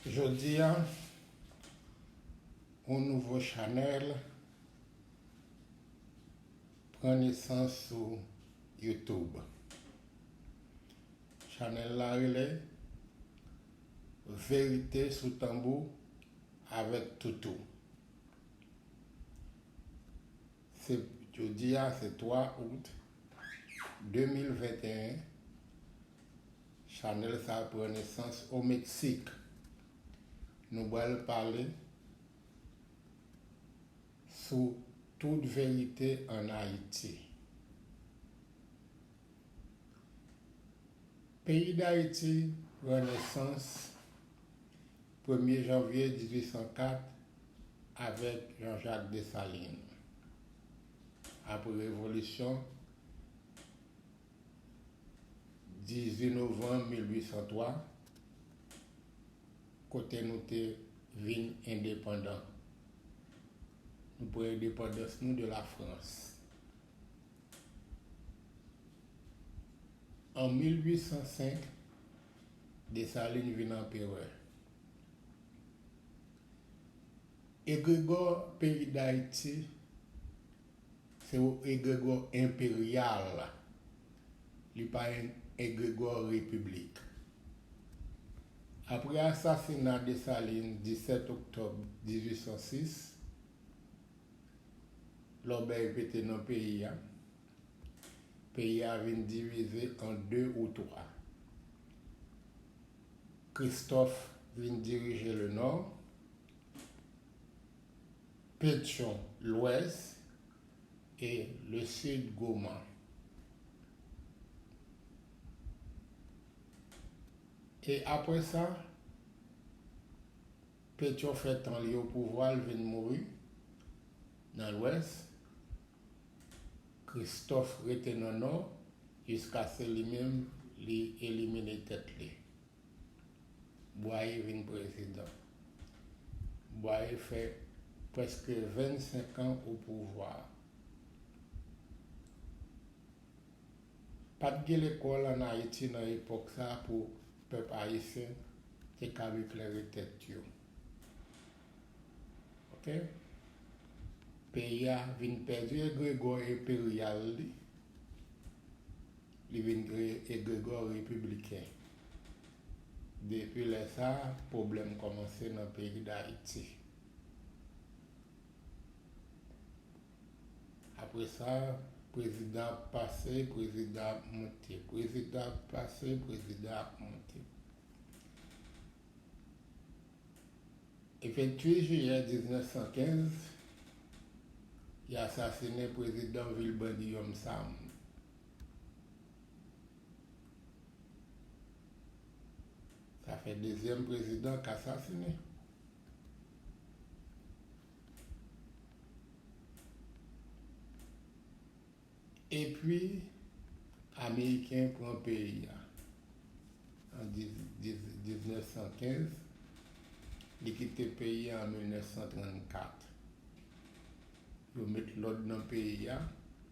Jodi a, yon nouvo chanèl pran nesans sou YouTube. Chanèl la rele Verite sou Tanbou avèk Toutou. Se jodi a se 3 Out 2021. Chanel sa pran nesans o Meksik. Nou bal pale sou tout verite an Ayiti. Peyi Dayiti pran nesans premye janvye 1804 avèk Jean Jacques Dessalines. Apre revolisyon. 18 novanm 1803, kote nou te vin endepandan. Nou pran endepandans nou de la Frans. An 1805, Desalin vin anperè. Egregò peyi Dayiti Se yon egregò enperyal. Li pa yon egregò repiblik. Apre asasina Desalin 17 oktòb 1806, lòbèy pete nan peyi a. Peyi a vin divize an de ou twa. Kristòf vin dirije lenò. Pétion, Lwès, e Le Sud Goman, e apre sa Pétion fè tan li opouvwa l vin mouri nan Lwès, Christophe rete nan Nò jiskase li menm li elimine tèt li. Bwaye vin prezidan. Bwaye fè prèske 25 an o pouvwa. Pat gen lekòl an Ayiti nan epòk sa pou pèp ayisyen te kab eklere tèt yo. Ok. Peyi a vin pèdi egregò enperyal li. Li vin kreye egregò repibliken. Depi lè sa a, pwoblèm kòmanse nan peyi Dayiti. Apre sa, prezidan ap pase, prezidan ap moute. Prezidan ap pase, prezidan ap moute. E 28 jiyè 1915, y asasinen prezidan vil Brandiyòm Sam. Sa fè dezyèm prezidan k asasine. Epi ameriken pran peyi a an 1915, li kite peyi a an 1934. Yo met lòd nan peyi a.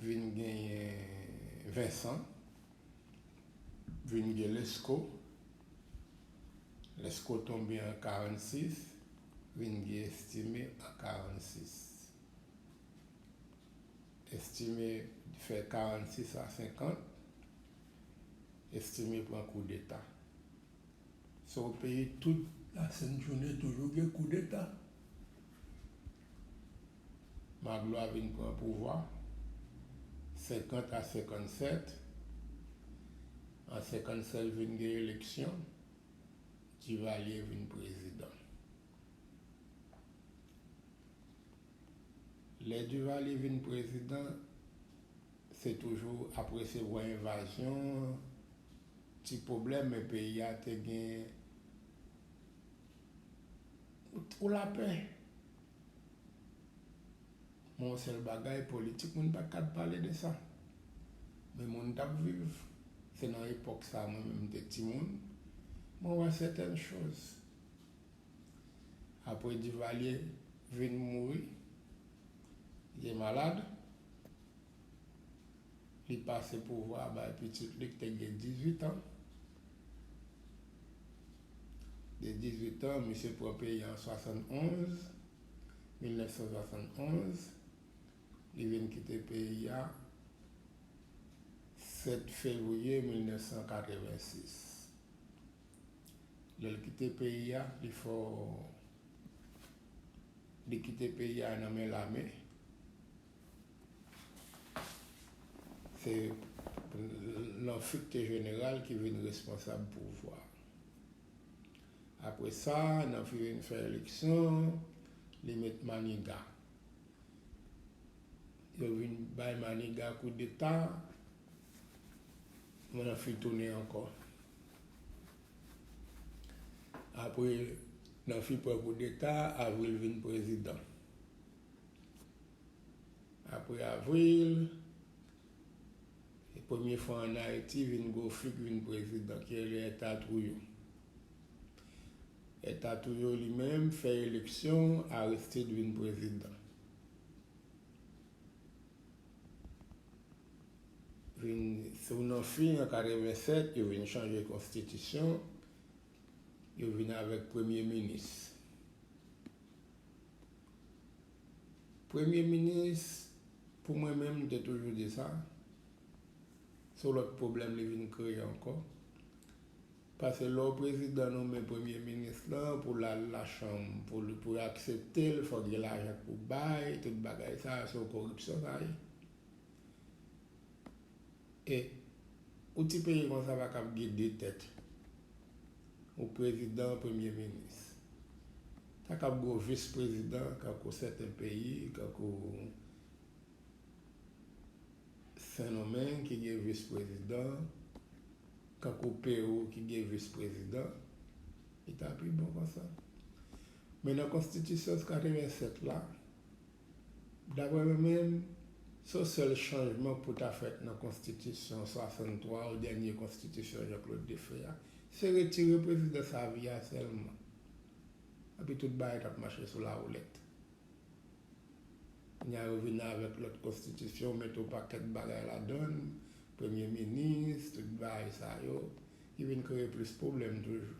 Vin genyen Vincent. Vin gen Lesko. Lesko tonbe an 46. Vin gen Estimé an 46. Estimé fè 46 a 50. Estimé pran koudeta. Se yon peyi tout lasent jounen toujou gen koudeta. Magloire vin pran pouvwa 50 a 57 an 57 vin gen eleksyon Duvalier vin prezidan lè Duvalier vin prezidan se toujou apre se vwa envazyon ti pwoblèm men peyi a te gen Ou twò lapè. Men yon sèl bagay, politik moun pa t ka pale de sa. Men moun t ap viv. Se nan epòk sa a mwen menm m te timoun. Mwen wè sèten choz. Apre Divalye vin mouri, li te malad. li pase pouvwa a bay pitit li ki te gen 18 an. De 18 an, misye pran peyi an 71, 1971. Li vin kite peyi a 7 fevriye 1986. Lè l kite peyi a, li fè w, li kite peyi a nan men lame. Se lanfekte jeneral ki vin responsab pouvwa. Apre sa, Nanfi vin fè eleksyon, li met Maniga. Yo vin bay Maniga koudeta, Nanfi tounen ankò. Apre Nanfi pran koudeta, Avril vin prezidan. Apre Avril, se premye fwa an Ayiti vin gwo fig vin prezidan ki rele Èta Twouyo. Èta Twouyo li menm fè eleksyon, Aristide vin prezidan. Vin sou nan fin an 87, yo vin chanje konstitisyon, yo vin avèk premye minis. Premye minis pou mwen menm m te toujou di sa, se yon lòt pwoblèm li vin kreye ankò. Pase lè yon prezidan nome premye minis lan pou l al lachanm pou l pou yo aksepte l fòk gen lajan pou bay, tout bagay sa se yon koripsyon sa ye. E yon ti peyi konsa pa kab gen 2 tèt. Ou prezidan premye minis. Ta kab gwo vis prezidan kankou sèten peyi kankou sendomeng ki gen vis prezidan kankou perou ki gen vis prezidan li ta pi bon konsa men nan konstitisyon 87 la Daprè mwen menm, son sèl chanjman pou ta fèt nan konstitisyon 63 ou dènye konstitisyon Jean-Claude Défé a, se retire prezidans a vi a sèlman. Epi tout bagay tap mache sou lawoulèt. Kounya yo vin avèk lòt konstitisyon mete yon pakèt bagay ladann, premye minis, tout bagay sa yo, ki vin kreye plis pwoblèm toujou.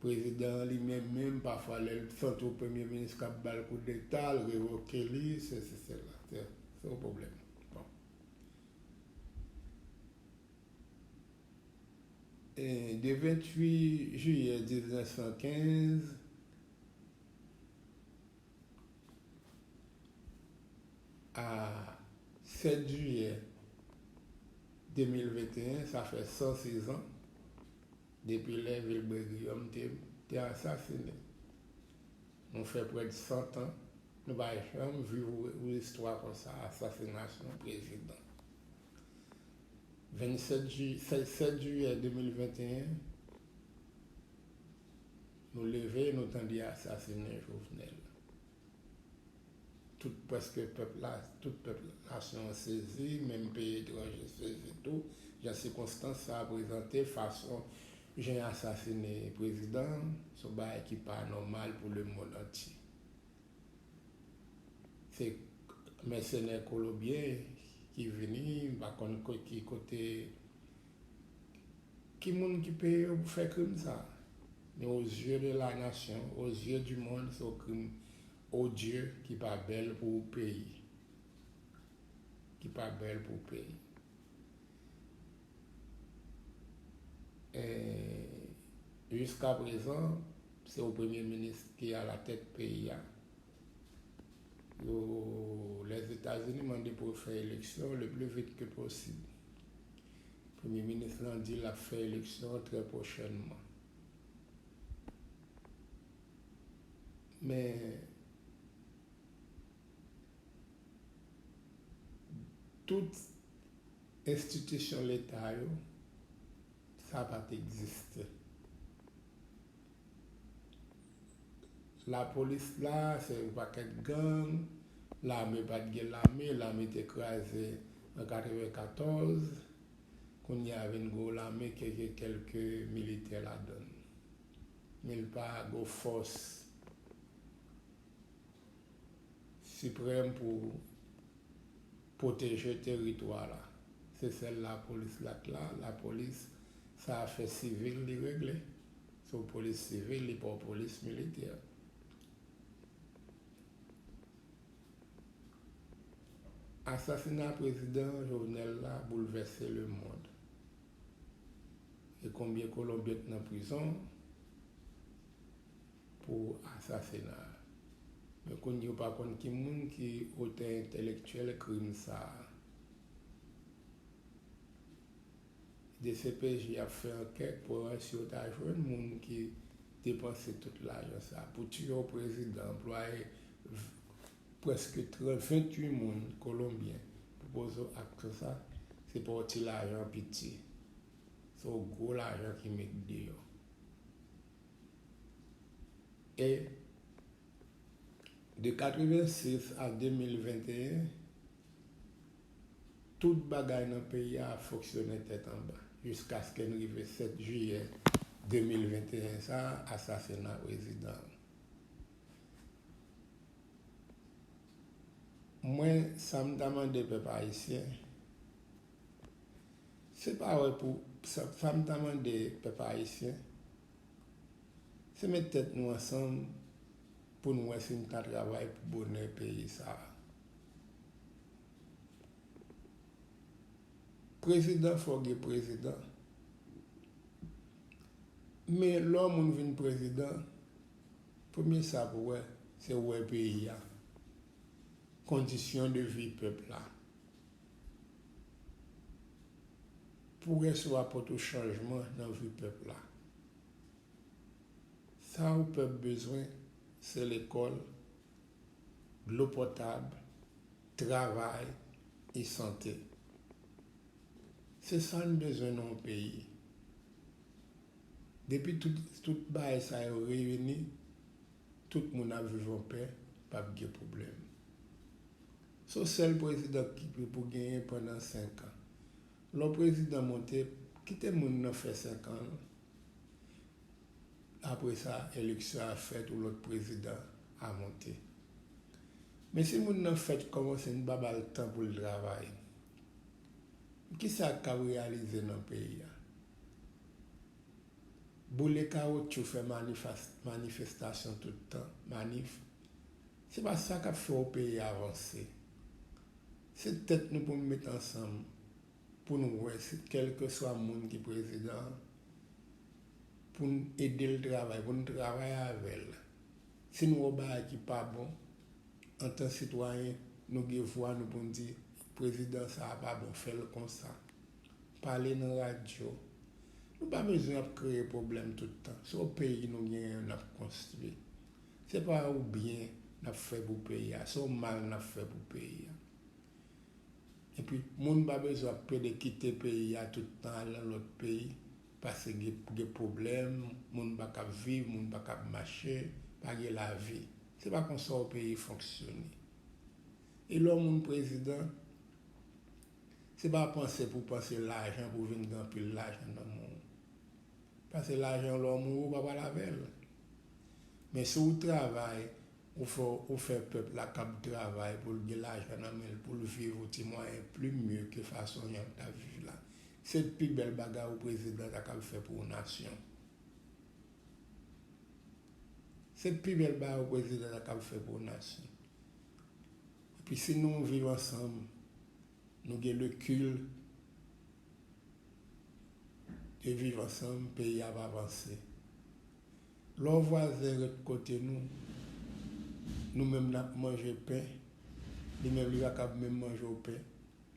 Prezidan an li menm menm pafwa lè l santi yon premye minis k ap ba l koudeta, l revoke li, sesi sela. Se yon pwoblèm. Bon. De 28 jiyè 1915, a 7 jiyè 2021, sa fè 106 an, Depi lè Vilbré Guillaume te te asasine. Nou fè prèd 100 tan nou pa janm viv ou istwa konsa asasinasyon prezidan. 27 ju 7 jiyè 2021 nou leve nou tande asasine Jovenel. Tout prèske pèp la, tout pèp nasyon an sezi, menm peyi etranje sezi tou, jan sikonstans sa a prezante fason jan y asasine prezidan an, se yon bagay ki pa nòmal pou lemonn antye. Se mèsenè kolobyen ki vini, m pa konn ki kote. Ki moun ki peye yo pou fè krim sa? Men o zye de la nasyon, o zye di mond se yon krim odye ki pa bèl pou peyi. Ki pa bèl pou peyi. E jiska prezan se yon premye minis ki a la tèt peyi a. Yo, Lèzetazini mande pou yo fè eleksyon le pli vit ke posib. Premye minis lan di l ap fè eleksyon trè pwochènman. Men tout enstitisyon leta yo, sa pa t egziste. Lapolis la se yon pakèt gang, lame pat gen lame, lame te kraze an 94, kounye a vin gen yon lame ke gen kèlke militè ladan l, men l pa gen yon fòs siprèm pou. Pwoteje teritwa la. Se sèl lapolis la t la, lapolis sa afè sivil li regle. Se yon polis sivil, li pa yon polis militè. Asasina prezidan Jovenel la boulvèse le mond. E konbyen kolonbyen k nan prizon. pou asasina a. Men konn yo pa konn ki moun ki otè entèlektyèl krim sa a. Dcpj ap fè ankèt pou wè si yo ta jwenn moun ki depanse tout lajan sa a pou tiye yon prezidan, anplwaye prèske 28 moun kolonbyen pou poze akte sa a. Se pa yon ti lajan piti. Se yon gwo lajan ki met deyò. E, de 86 a 2021, tout bagay nan peyi a ap fonksyone tèt anba, jiskaske n rive 7 jiyè 2021 sa a, asasina prezidan an. Mwen, sa m ta mande pèp ayisyen, Se pa wè pou sa m ta mande pèp ayisyen se met tèt nou ansanm pou n wè si n ka travay pou bonè peyi sa a. Prezidan fò gen prezidan men lè yon moun vin prezidan premye sa pou wè se wè peyi a, kondisyon de vi pèp la Pou rès ou apòt ou chanjman nan vi pèp la. Sa ou pèp bezwen se lekòl, dlo potab, travay e sante. Se sa n bezwen nan yon peyi. Depi tout bagay sa yo reyini, tout moun ap viv an pè, pap gen pwoblèm. Son sèl president kipe pou genyen pandan 5 an. Lè w president monte kite moun nan fè 5 an l apre sa eleksyon a fèt ou lòt president a monte. Men si moun nan fèt kòmanse n pa ba l tan pou l travay kisa k ap reyalize nan peyi a? Boule kawotchou fè manifestation tout tan manif. Se pa sa kap fè yon peyi avanse. Se tèt nou pou nou met ansanm pou nou wè si kèlkeswa moun ki prezidan pou nou ede l travay, pou nou travay avè l. Si nou wè yon bagay ki pa bon, antan sitwayen, nou gen vwa nou pou nou di prezidan sa a pa bon, fè l konsa. Pale nan radyo. Nou pa bezwen ap kreye pwoblèm tout tan. Se yon peyi nou genyen nap konstwi. Se pa yon byen n ap fè pou peyi a, se yon mal n ap fè pou peyi a. Epi, moun pa bezwen ap plede kite peyi a tout tan, al nan lòt peyi, pase gen pwoblèm, moun pa kab viv, moun pa kab mache, pa gen lavi. Se pa konsa yon peyi fonksyone. E lè yon moun prezidan, se pa panse pou panse lajan pou vin gen anpil lajan nan men w. Pase lajan lòm ou ou pa pral avèl men si ou travay ou fè ou fè pèp la kab travay poul gen lajan nan menl poul viv ou ti mwayen pli mye ke fason yap ta viv la se pi bèl bagay ou prezidan ta kab fè pou ou nasyon se pi bèl bagay ou prezidan ta kab fè pou ou nasyon epi si nou viv ansanm nou gen le kil. te viv ansanm peyi ap avanse lò vwazen ret kote nou nou menm nap manje pen li menm li pa kab menm manje yon pen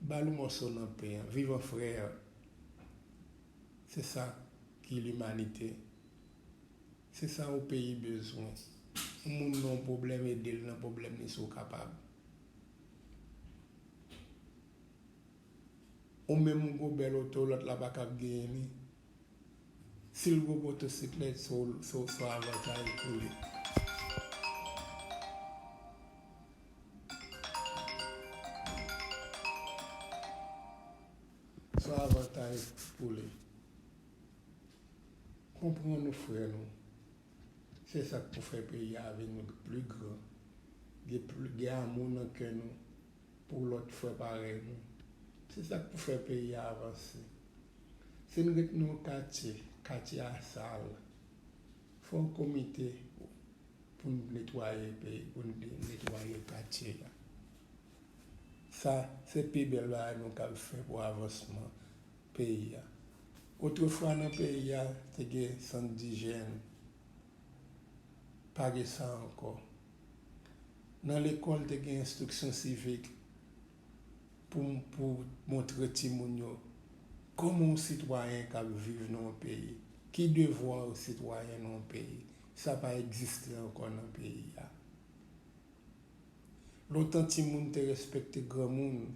bal yon mòso nan pen an viv an frè se sa ki limanite se sa yon peyi bezwen yon moun gen yon pwoblèm edel nan pwoblèm li si w kapab. Ou menm ou gwo bèl oto lòt la pa kab genyen li si l gwo motosiklèt se w son avantaj pou li. Son avantaj pou li. Konprann nou frè nou se sa k pou fè peyi a vin pli gran gen amou nan kè nou. pou lòt frè parèy nou. Se sa k pou fè peyi a avanse. Si n ret nan yon katye, katye a sal, fè yon komite pou n netwaye peyi, pou n netwaye katye a. Sa se pi bèl bagay nou kab fè pou avansman peyi a. Otrefwa nan peyi a te gen sant dijèn, pa gen sa ankò. Nan lekòl te gen enstriksyon sivik pou pou montre timoun yo kòman yon sitwayen ka viv nan yon peyi, ki devwa yon sitwayen nan yon peyi, sa pa egziste ankò nan peyi a. Lontan timoun te respekte granmoun,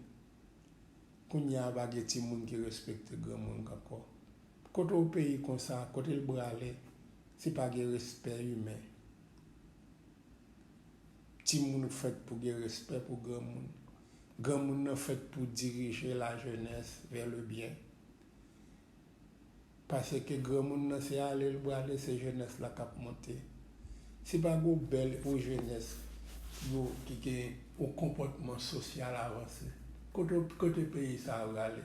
kounye a pa gen timoun ki respekte granmoun ankò. Kote yon peyi konsa, kote l brale si pa gen respè imen? Timoun fèt pou gen respè pou granmoun. Granmoun nan fèt pou dirije la jenès vè le byen. Paseke granmoun nan se ale l prale se jenès la k ap monte. Si pa gen yon bèl jenès ki gen yon konpòtman sosyal avanse, kote peyi sa a prale?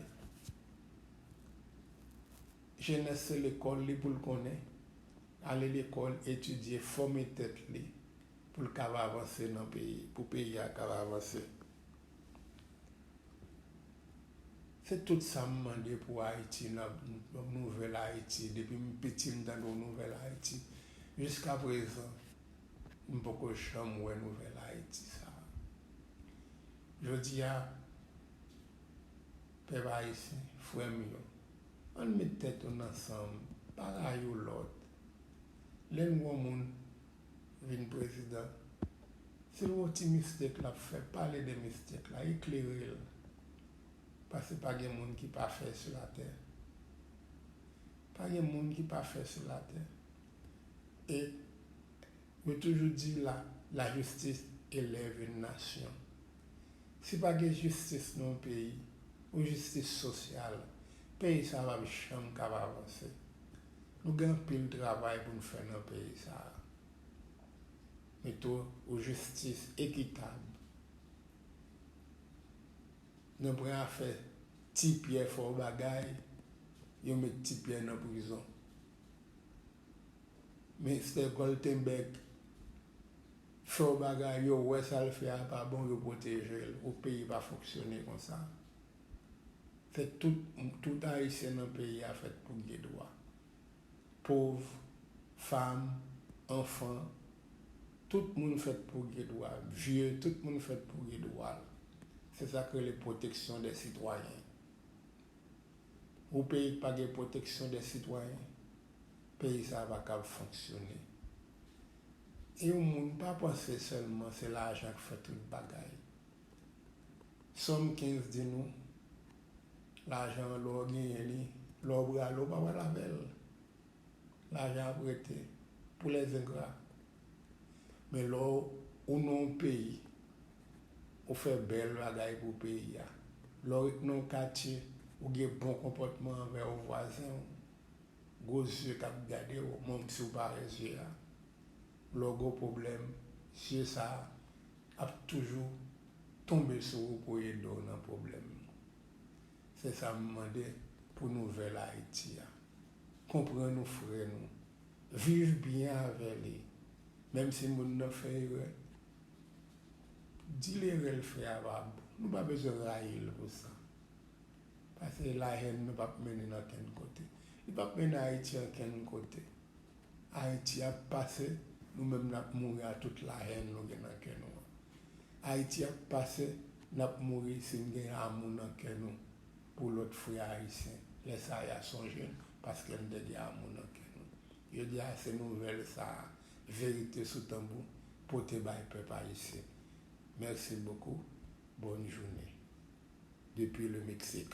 Jenès se lekòl li pou l konnen. Ale lekòl, etidye, fòme tèt li pou l kab avanse nan peyi, pou peyi a kab avanse. Se tout sa m mande pou Ayiti nan nouvèl Ayiti. Depi m piti m tande w nouvèl Ayiti. Jiska prezan, m poko janm wè nouvèl Ayiti sa a. Jodi a, pèp ayisyen, frè m yo. Ann met tèt oun ansanm pa rayiw lòt lè n gwan moun vin prezidan si l wè w ti mistake l ap fè pale de mistake la eklere l pase pa gen moun ki pafè su latè pa gen moun ki pafè su latè e Mwen toujou di la la jistis elève yn nasyon. Si pa gen jistis nan yon peyi, yon jistis sosyal, peyi sa pa p janm k ap avanse. Nou gen anpil travay pou n fè nan peyi sa. Mete yon jistis ekitab nan pran afè ti pyè fò bagay yo met ti pyè nan prizon. Mister Goltenberg fè w bagay yo wè sa l fè a pa bon yo pwoteje l o peyi pa fonksyone konsa fè tout tout ayisyen nan peyi a fèt pou gen dwa pov fanm anfan tout moun fèt pou gen dwa vye tout moun fèt pou gen dwa l se sa k rele pwoteksyon dè sitwayen Yon peyi ki pa gen pwoteksyon dè sitwayen, peyi sa a pa kab fonksyone. E yon moun pa panse sèlman se lajan k fè tout bagay. Sòm 15 di nou, Lajan an lè w genyen li, lè w brale w pa pral avè l. Lajan ap rete pou les ingrats. Men lè ou nan yon peyi, ou fè bèl bagay pou peyi a, lè w ret nan yon katye, ou gen bon konpòtman anvè yon vwazen w, gwo zye k ap gade w, menm si w pa wè zye a, lè w gen yon pwoblèm, zye sa a ap toujou tonbe sou ou pou ede w nan pwoblèm. Se sa m mande pou nouvèl Ayiti a. Konprann ou frè nou. Viv byen avè li. Menm si moun nan fè erè, di l erè l fè a pa bon. Nou pa bezwen rayi l pou sa. Pase lahèn nou p ap mennen n ankenn kote. Li p ap mennen Ayiti ankenn kote. Ayiti ap pase nou menm nap mouri a tout la haine nou gen nan kè nou an Ayiti ap pase nap mouri si n gen amou nan kè nou pou lòt frè ayisyen lè sa a ya sonje n paske n te gen amou nan kè nou jodi a se nouvèl sa a verite sou tanbou pote bay pèp ayisyen merci beaucoup bonne journée depuis le Mexique.